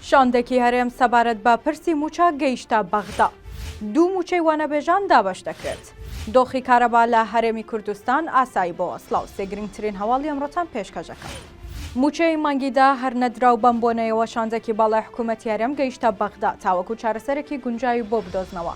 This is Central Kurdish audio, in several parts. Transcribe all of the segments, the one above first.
شاندێکی هەرێم سەبارەت بە پرسی موچە گەیشتە بەغدا دوو موچەی وانەبێژان دابش دەکرێت دۆخی کارەبا لە هەرێمی کوردستان ئاسایی بۆ ئەسلااو سێگرنگترین هەواڵی ئەمڕۆتان پێشکەشەکە موچەی مانگیدا هەر نەدراو بەم بۆنەیەوە شاندێکی باڵای حکوومەت یارەم گەیشتە بەغدا تاوەکو چارەسەرێکی گونجاوی بۆ بدۆزنەوە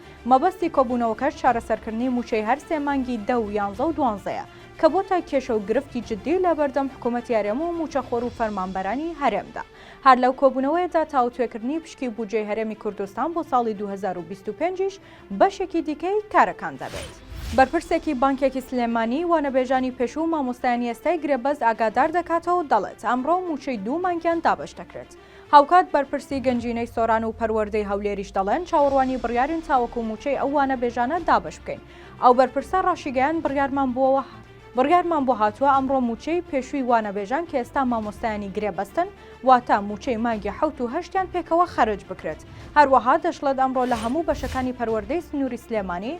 مەبەستی کۆبوونەوەکەش چارەسەرکردنی مووچەی هەر سێ مانگی دە و یانزە و دوانزەیە، کە بۆتە کێشە و گرفتی جددی لە بەردەم حکوومەتی هەرێم و مووچەخۆر و فەرمانبەرانی هەرێمدا. هەر لەو کۆبوونەوەیەدا تاوتوێکردنی پشکی بودجەی هەرێمی کوردستان بۆ ساڵی دوو هەزار و بیست و پێنج یش بەشێکی دیکەی کارەکان دەبێت. بەرپرسێکی بانکێکی سلێمانی، وانەبێژانی پێشوو و مامۆستایانی ئێستای گرێبەست ئاگادار دەکاتەوە و دەڵێت، ئەمڕۆ مووچەی دوو مانگیان دابەش دەکرێت. هاوکات بەرپرسی گەنجینەی سۆران و پەروەردەی هەولێریش دەڵێن چاوەڕوانی بڕیارین تاوەکو مووچەی ئەو وانەبێژانە دابەش بکەین. ئەو بەرپرسە ڕاشیگەیاند بڕیارمان بووە بڕیارمان بۆ هاتووە ئەمڕۆ مووچەی پێشووی وانەبێژان کە ئێستا مامۆستایانی گرێبەستن واتە مووچەی مانگی حەوت و هەشتیان پێکەوە خەرج بکرێت. هەروەها دەشڵێت ئەمڕۆ لە هەموو بەشەکانی پەروەردەی سنووری سلێمانی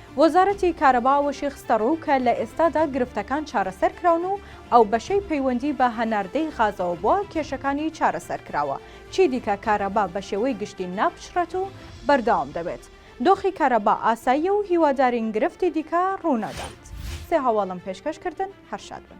وەزارەتی کارەبا ئەوەشی خستەڕوو کە لە ئێستادا گرفتەکان چارەسەر کراون و ئەو بەشەی پەیوەندی بە هەناردەی غازەوە بووە کێشەکانی چارەسەر کراوە، چیدیکە کارەبا بەشێوەی گشتی ناپچڕێت و بەردەوام دەبێت. دۆخی کارەبا ئاساییە و هیوادارین گرفتی دیکە ڕوونەدات. سێ هەواڵم پێشکەش کردن، هەر شاد بن.